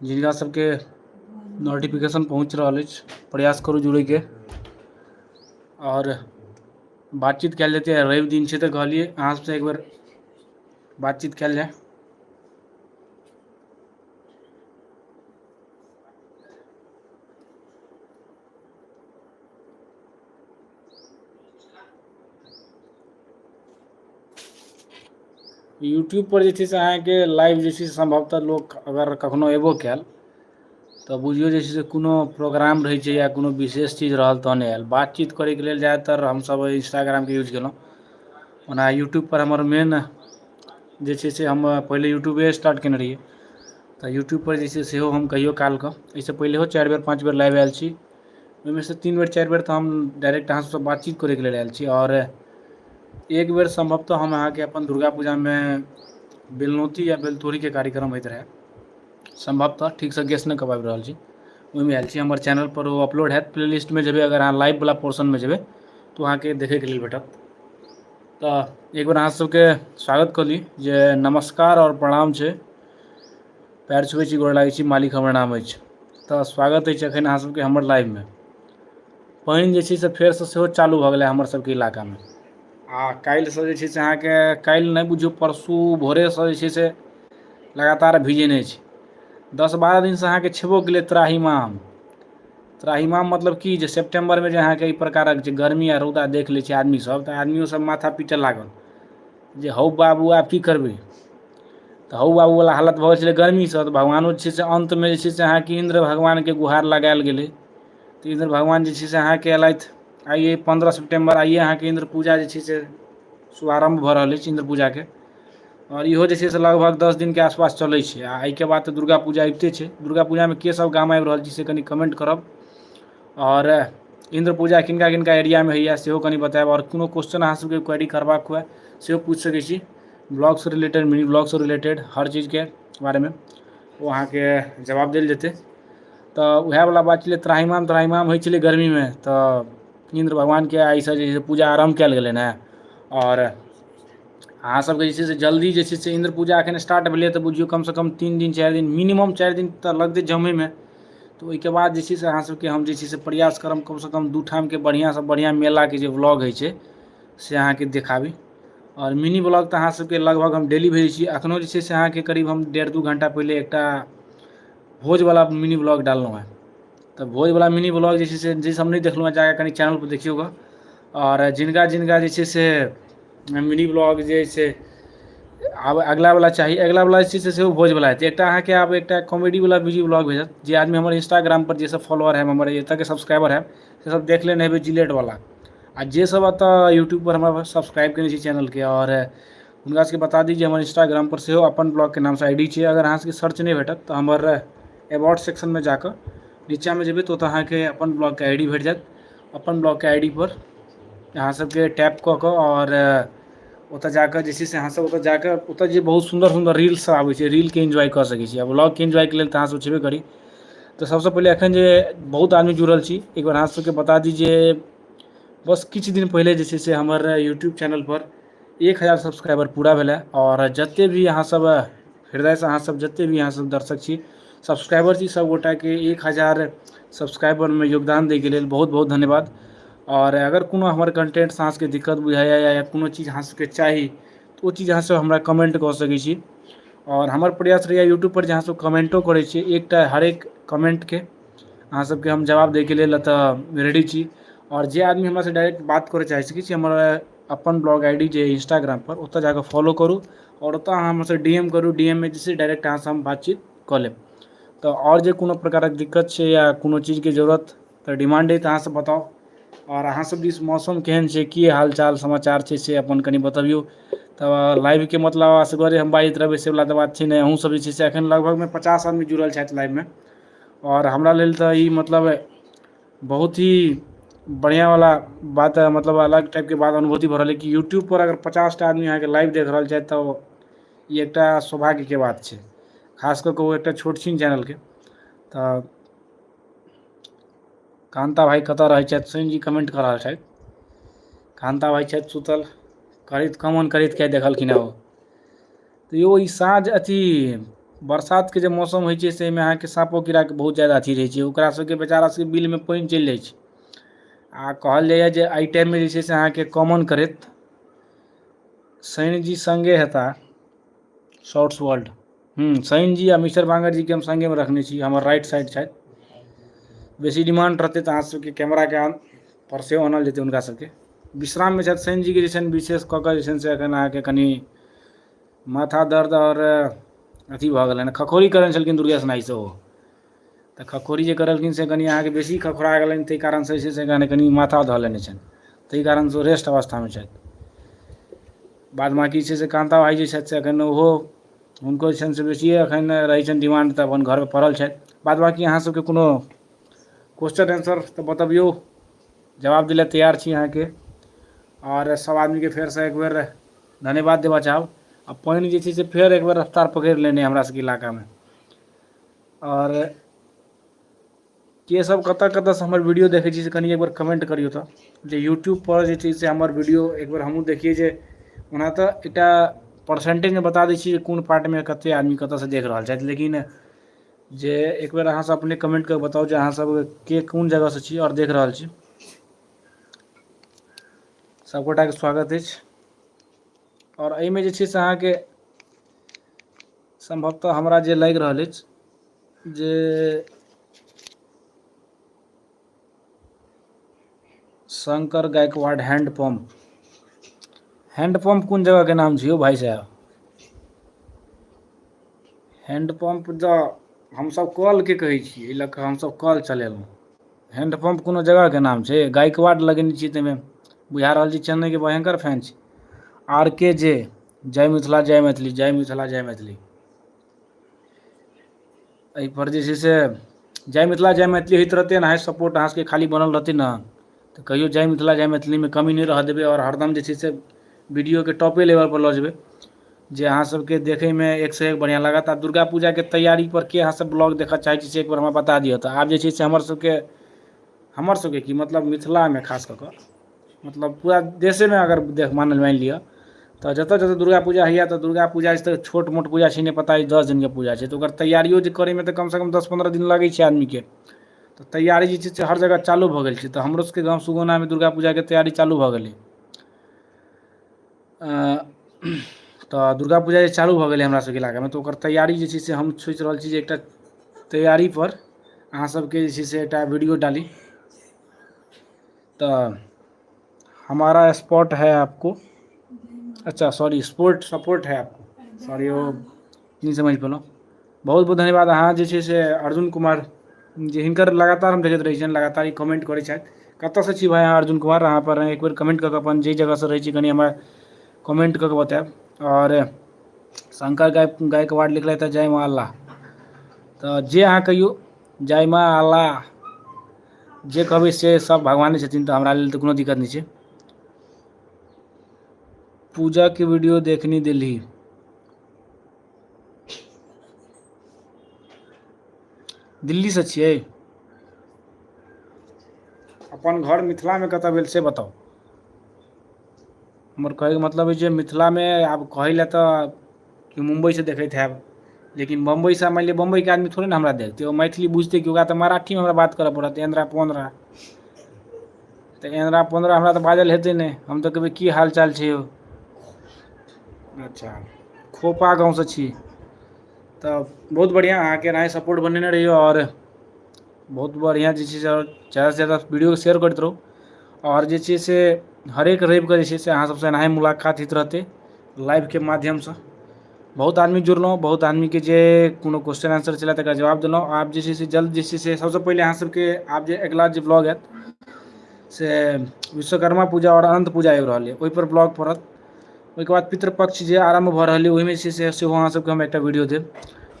जिनका सबके नोटिफिकेशन पहुँच रहल अछि प्रयास करू जुड़ैके आओर बातचीत कयल जेतै आइ रवि दिन छै तऽ कहलियै अहाँ सबसँ एक बेर बातचीत कयल जाय यूट्यूब पर जे छै से अहाँके लाइव जे छै से सम्भवतः लोक अगर कखनो एबो कयल तऽ बुझियौ जे छै से कोनो प्रोग्राम रहै छै या कोनो विशेष चीज रहल तहने आयल बातचीत करैके लेल जादातर हमसभ इंस्टाग्रामके यूज केलहुँ ओना यूट्यूब पर हमर मेन जे छै से हम पहिले यूट्यूबे स्टार्ट केने रहियै तऽ यूट्यूब पर जे छै सेहो हम कहियो कालके एहिसँ पहिलहो चारि बेर पाँच बेर लाइव आयल छी ओहिमे सँ तीन बेर चारि बेर तऽ हम डाायरेक्ट अहाँसँ बातचीत करैके लेल आयल छी आओर एक बेर सम्भवतः हम अहाँके अपन दुर्गा पूजामे बेलनौती या बेलतोड़ीके कार्यक्रम होइत रहै सम्भवतः ठीकसँ गेस नहि कऽ पाबि रहल छी ओहिमे आयल छी हमर चैनलपर ओ अपलोड हएैत प्ले लिस्टमे जेबै अगर अहाँ लाइववला पोर्शनमे जेबै तऽ ओ अहाँकेँ देखयके लेल भेटत तऽ एक बेेर अहाँसभके स्वागत कऽ ली जे नमस्कार आओर प्रणाम छै पैर छुबै छी गोर लागै छी मालिक हमर नाम अछि तऽ स्वागत अछि एखन अहाँ सबके हमर लाइव मे पानि जे छै से फेरसँ सेहो चालू भऽ गेलै हमर सबके इलाकामे आ काल्हिसँ जे छै से अहाँके काल्हि नहि बुझियौ परसू भोरेसँ जे छै से लगातार भीजने छी दस बारह दिनसँ अहाँके छेबो कलै त्राहिमाम त्राहिमाम मतलब की जे सेप्टेम्बरमे जे अहाँके ई प्रकारक जे गर्मी आ रौदा देख लै छै आदमी सब तऽ आदमियो सब माथा पीटय लागल जे हौ बाबू आब की करबै तऽ हौ बाबू वला हालत भऽ गेल छलै गर्मीसँ तऽ भगवानो जे छै से अन्तमे जे छै से अहाँके इन्द्र भगवानके गुहार लगायल गेलै तऽ इन्द्र भगवान जे छै से अहाँके एलथि आइये पन्द्रह सेप्टेम्बर आइये अहाँके इन्द्र पूजा जे छै से शुभारम्भ भऽ रहल अछि इन्द्र पूजाके आओर इहो जे छै से लगभग दस दिनके आसपास चलै छै आ एहिके बाद तऽ दुर्गा पूजा अबिते छै दुर्गा पूजामे के सब गाम आबि रहल छी से कनि कमेन्ट करब आओर इन्द्र पूजा किनका किनका एरियामे होइए सेहो कनि बतायब आओर कोनो क्वेश्चन अहाँ सभके क्वेरी करबाक हुए सेहो पूछि सकै छी ब्लॉगसँ रिलेटेड मिनी ब्लॉगसँ रिलेटेड हर चीजके बारेमे ओ अहाँके जवाब देल जेतै तऽ उएहवला बात छलै त्राहिमाम त्राहिमाम होइ छलै गर्मीमे तऽ इन्द्र भगवानके एहिसँ जे छै पूजा आरम्भ कयल गेलनि हेँ आओर अहाँ सभके जे छै से जल्दी जे छै से इन्द्र पूजा एखन स्टार्ट भेलैए तऽ बुझियौ कमसँ कम तीन दिन चारि दिन मिनिमम चारि दिन तऽ लगतै जमयमे तऽ ओहिके बाद जे छै से अहाँ सबके हम जे छै से प्रयास करब कम सँ कम दू ठाम के बढ़िआँ सँ बढ़िआँ मेला के जे ब्लॉग होइ छै से अहाँके देखाबी आओर मिनी ब्लॉग तऽ अहाँ सबके लगभग हम डेली भेजै छी अखनो जे छै से अहाँके करीब हम डेढ़ दू घण्टा पहिले एकटा भोज बला मिनी ब्लॉग डाललहुँ हेँ तऽ भोज बला मिनी ब्लॉग जे छै से जे सब नहि देखलहुँ हेँ जाकऽ कनि चैनल पर देखियौ गऽ आओर जिनका जिनका जे छै से मिनी ब्लॉग जे छै आब अगिला वला चाही अगिला वला जे छै सेहो भोज वला हेतै एकटा अहाँके आब एकटा कॉमेडी वला वीडियो ब्लॉग भेटत जे आदमी हमर इंस्टाग्राम पर जे सब फॉलोर है हमर एतऽ के सब्सक्राइबर है से सब देख लेने हेबै जिलेट वला आ जे सब एतऽ यूट्यूब पर हमरा सब्सक्राइब केने छी चैनल के आओर हुनका सबके बता दी जे हमर इंस्टाग्राम पर सेहो अपन ब्लॉग के नाम सँ आई डी छै अगर अहाँ सबके सर्च नहि भेटत तऽ हमर एबाउट सेक्शन मे जाकऽ नीचा मे जेबै तऽ ओतऽ अहाँके अपन ब्लॉग के आई डी भेट जायत अपन ब्लॉक के आई डी पर अहाँ सबके टैप कऽ कऽ आओर ओतऽ जाकऽ जे छै से अहाँ सब ओतऽ जाकऽ ओतऽ जे बहुत सुन्दर सुन्दर रील सब आबै छै रील के इन्जॉय कऽ सकै छी आ ब्लॉग के इन्जॉय के लेल तऽ अहाँ सब छेबे करी तऽ सबसँ पहिले एखन जे बहुत आदमी जुड़ल छी एक बेर अहाँ सबके बता दी जे बस किछु दिन पहिले जे छै से हमर यूट्यूब चैनल पर एक हजार सब्सक्राइबर पूरा भेलै आओर जतेक भी अहाँसभ हृदयसँ अहाँसभ जतेक भी अहाँसभ दर्शक छी सब्सक्राइबर छी सभगोटाके एक हजार सब्सक्राइबरमे योगदान दैके लेल बहुत बहुत धन्यवाद आओर अगर कोनो हमर कन्टेन्टसँ अहाँसभके दिक्कत बुझाइए या कोनो चीज अहाँसभके चाही तऽ ओ चीज अहाँसभ हमरा कमेन्ट कऽ सकै छी आओर हमर प्रयास रहैए यूट्यूबपर जे अहाँसभ कमेन्टो करै छी एकटा हरेक कमेन्टके अहाँसभके हम जवाब दैके लेल एतय रेडी छी आओर जे आदमी हमरासँ डायरेक्ट बात करय चाहै छी किछु हमर अपन ब्लॉग आई डी जे अइ इंस्टाग्राम पर ओतऽ जाकऽ फॉलो करू आओर ओतऽ अहाँ हमरा सबके डी एम करू डी एम मे जे छै डायरेक्ट अहाँ सँ हम बातचीत कऽ लेब तऽ आओर जे कोनो प्रकारक दिक्कत छै या कोनो चीजके जरूरत तऽ डिमांड अइ तऽ अहाँ सब बताउ आओर अहाँ सब दिस मौसम केहन छै की हाल चाल समाचार छै से अपन कनी बतबियौ तऽ लाइव के मतलब असगरे हम बाजैत रहबै से बला तऽ बात छै नहि अहूँ सब जे छै से एखन लगभग मे पचास आदमी जुड़ल छथि लाइव मे आओर हमरा लेल तऽ ई मतलब बहुत ही बढ़िया वाला बात ह मतलब अलग टाइप के बात अनुभूति भ रहल यै कि यूट्यूब पर अगर पचास टा आदमी अहाँके लाइव देख रहल छैथ तऽ ई एकटा सौभाग्य के बात छै खास कऽ कऽ ओ एकटा छोट छिन चैनल के तऽ कान्ता भाय कतऽ रहै छैथ सुनील जी कमेन्ट कऽ रहल छैथ कान्ता भाइ छैथ सुतल करैत कामन करैत किए देखलखिन हेँ ओ त यो ई साँझ अथी बरसात के जे मौसम होइ छै से एहिमे अहाँके साँपो कीड़ा के बहुत जादा अथी रहै छै ओकरा सबके बेचारा सबके बिल मे पानि चलि जाइ छै आ कहल जाइया जे एहि टाइम मे जे छै से अहाँके कमन करैत शैनजी संगे हेता शॉर्ट्स वर्ल्ड हूँ शैन जी आ मिस्टर बांगट जी के हम संगे मे रखने छी हमर राइट साइड छथि बेसी डिमांड रहतै तऽ अहाँ सबके कैमरा के पर सेहो आनल जेतै हुनका सबके विश्राम मे छथि शैन जी के जे छनि विशेष कऽ कऽ जे छनि से एखन अहाँके कनि माथा दर्द आओर अथी भऽ गेलनि हँ खखौरी करै छलखिन दुर्गेश नाइ सेहो तऽ खखौरी जे करलखिन से कनि अहाँके बेसी खखौरा गेलनि ताहि कारण से जे छै से कनि कनि माथा धऽ लेने छनि ताहि कारण से ओ रेस्ट अवस्था मे छथि बाद बाकी जे छै से कान्ता भाइ जे छथि से एखन ओहो हुनको जे छनि से बेसिये एखन रहै छनि डिमांड तऽ अपन घर मे पड़ल छथि बाद बाकी अहाँ सबके कोनो क्वेश्चन एन्सर तऽ बतबियौ जवाब दिले तैयार छी अहाँके आओर सभ आदमीके फेरसँ एक बेर धन्यवाद देबऽ चाहब आ पानि जे छै से फेर एक बेर रफ्तार पकड़ि लेने यए हमरा सभके इलाकामे आओर के सभ कतय कतयसँ हमर वीडियो देखै छी से कनि एक बेर कमेंट करियौ तऽ जे यूट्यूबपर जे छै से हमर वीडियो एक बेर हमहूँ देखियै जे ओना तऽ एकटा परसेंटेजमे बता दै छी जे कोन पार्टमे कतेक आदमी कतयसँ देख रहल छथि लेकिन जे एक बेेर अहाँसभ अपने कमेंट कऽ बताउ जे अहाँसभ के कोन जगहसँ छी आओर देख रहल छी सभगोटाके स्वागत अछि आओर एहिमे जे छै से अहाँके सम्भवतः हमरा जे लागि रहल अछि जे Shankar Gaikwad hand pump hand pump कौन जगह के नाम छो भाई साहब हैंड पंप जो हम सब कॉल के कहे छी ए लक हम सब कॉल चलेलहुँ हैंड पंप कोनो जगह के नाम छे गायकवाड लगेने छी ते में बुझा रहल छी चेन्नई के भयंकर फैन छी आर के जे जय मिथिला जय मैथिली जय मिथिला जय मैथिली एहिपर जे छै से जय मिथिला जय मैथिली होइत रहतै एनाहि सपोर्ट अहाँसभके खाली बनल रहतै ने तऽ कहियो जय मिथिला जय मैथिलीमे कमी नहि रहय देबै आओर हरदम जे छै से वीडियोके टॉपे लेवलपर लऽ जेबै जे अहाँसभके देखयमे एकसँ एक बढ़िआँ लागत आ दुर्गा पूजाके तैयारीपर के अहाँसभ ब्लॉग देखय चाहै छी से एक बेर हमरा बता दिअ तऽ आब जे छै से हमरसभके हमरसभके की मतलब मिथिलामे खास कऽ कऽ मतलब पूरा देशेमे अगर देख मानल मानि लिअ तऽ जतऽ जतऽ दुर्गा पूजा होइए तऽ दुर्गा पूजा अछि तऽ छोट मोट पूजा छै नहि पता अछि दस दिनके पूजा छै तऽ ओकर तैयारियो जे करैमे तऽ कम सँ कम दस पन्द्रह दिन लगै छै आदमीके तऽ तैयारी जे छै से हर जगह चालू भऽ गेल छै तऽ हमरो सबके गाँव सुगौनामे दुर्गा पूजाके तैयारी चालू भऽ गेलै तऽ दुर्गा पूजा जे चालू भऽ गेलै हमरा सबके इलाकामे तऽ ओकर तैयारी जे छै से हम सोचि रहल छी जे एकटा तैयारीपर अहाँ सबके जे छै से एकटा वीडियो डाली तऽ हमारा स्पॉट है आपको अच्छा सॉरी स्पोर्ट सपोर्ट है आपको सॉरी ओ नहि समझ पलो बहुत बहुत धन्यवाद अहाँ जे छै से अर्जुन कुमार जे हिनकर लगातार हम देखैत रहै छियनि लगातार ई कमेन्ट करै छथि कतयसँ छी भाय अहाँ अर्जुन कुमार अहाँपर एक बेेर कमेन्ट कऽ कऽ अपन जाहि जगहसँ रहै छी कनि हमरा कमेन्ट कऽ कऽ बतायब आओर शंकर गाय गायकवाड लिखलथि हे जय मां अल्लाह तऽ जे अहाँ कहियौ जय मां अल्लाह जे कहबै से सभ भगवाने छथिन तऽ हमरा लेल तऽ कोनो दिक्कत नहि छै पूजा के वीडियो देखनी देली दिल्ली सँ छियै अपन घर मिथिलामे कतय भेल से बताउ हमर कहैके मतलब अछि जे मिथिलामे आब कहै लए तऽ कि मुम्बइसँ देखैत हैब लेकिन बम्बइसँ मानि लिअ बम्बइके आदमी थोड़े ने हमरा देखतै ओ मैथिली बुझतै कि ओकरा तऽ मराठीमे हमरा बात करऽ पड़त एन्नरा पोन्नरा तऽ एन्नरा पोन्नरा हमरा तऽ बाजल हेतै नहि हम तऽ कहबै की हाल चाल छै यौ अच्छा खोपा गाँवसँ छी तऽ बहुत बढ़िआँ अहाँके एनाही सपोर्ट बनेने रहियौ आओर बहुत बढ़िआँ जे छै से आओर ज्यादासँ ज्यादा वीडियोके शेयर करैत रहू आओर जे छै से हरेक रविकेँ जे छै से अहाँ सभसँ एनाही मुलाकात होइत रहतै लाइवके माध्यमसँ बहुत आदमी जुड़लहुँ बहुत आदमीके जे कोनो क्वेश्चन आन्सर छलय तकर जवाब देलहुँ आब जे छै से जल्द जे छै से सभसँ पहिले अहाँ सभके आब जे अगिला जे ब्लॉग आयत से विश्वकर्मा पूजा आओर अनन्त पूजा आबि रहल यए ओहिपर ब्लॉग पड़त ओहिके बाद पितृपक्ष जे आरम्भ भऽ रहलै ओहिमे जे छै से सेहो अहाँसभके हम एकटा वीडियो देब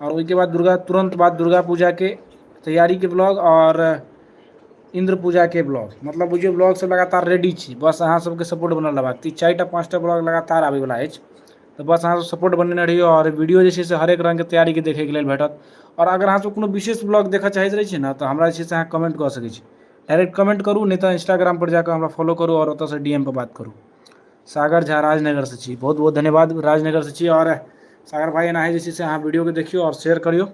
आओर ओहिके बाद दुर्गा तुरन्त बाद दुर्गा पूजाके तैयारीके ब्लॉग आओर इन्द्र पूजाके ब्लॉग मतलब बुझियौ ब्लॉगसभ लगातार रेडी छी बस अहाँसभके सपोर्ट बनल रहबाक ती चारि टा पाँच टा ब्लॉग लगातार आबयवला अछि तऽ बस अहाँसभ सपोर्ट बनेने रहियौ आओर वीडियो जे छै से हरेक रङ्गके तैयारीके देखयके लेल भेटत आओर अगर अहाँसभ कोनो विशेष ब्लॉग देखय चाहैत रहै छियै ने तऽ हमरा जे छै से अहाँ कमेंट कऽ सकै छी डायरेक्ट कमेंट करू नहि तऽ इंस्टाग्रामपर जा कऽ हमरा फॉलो करू आओर ओतयसँ डी एम पर बात करू सागर झा राजनगरसँ छी बहुत बहुत धन्यवाद राजनगरसँ छी आओर सागर भाइ एनाहि जे छै से अहाँ वीडियोके देखियौ आओर शेयर करियौ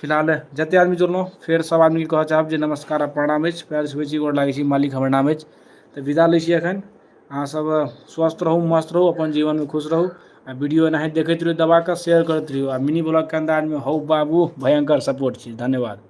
फिलहाल जते आदमी जुड़लहुँ फेर सभ आदमीके कहऽ चाहब जे नमस्कार आओर प्रणाम अछि पयर छुबै छी गोर लागै छी मालिक हमर नाम अछि तऽ विदा लै छी एखन अहाँ सभ स्वस्थ रहू मस्त रहू अपन जीवनमे खुश रहू आओर वीडियो एनाहि देखैत रहियौ दबाकऽ शेयर करैत रहियौ आओर मिनी ब्लॉगके अन्दाजमे हौ बाबू भयङ्कर सपोर्ट छी धन्यवाद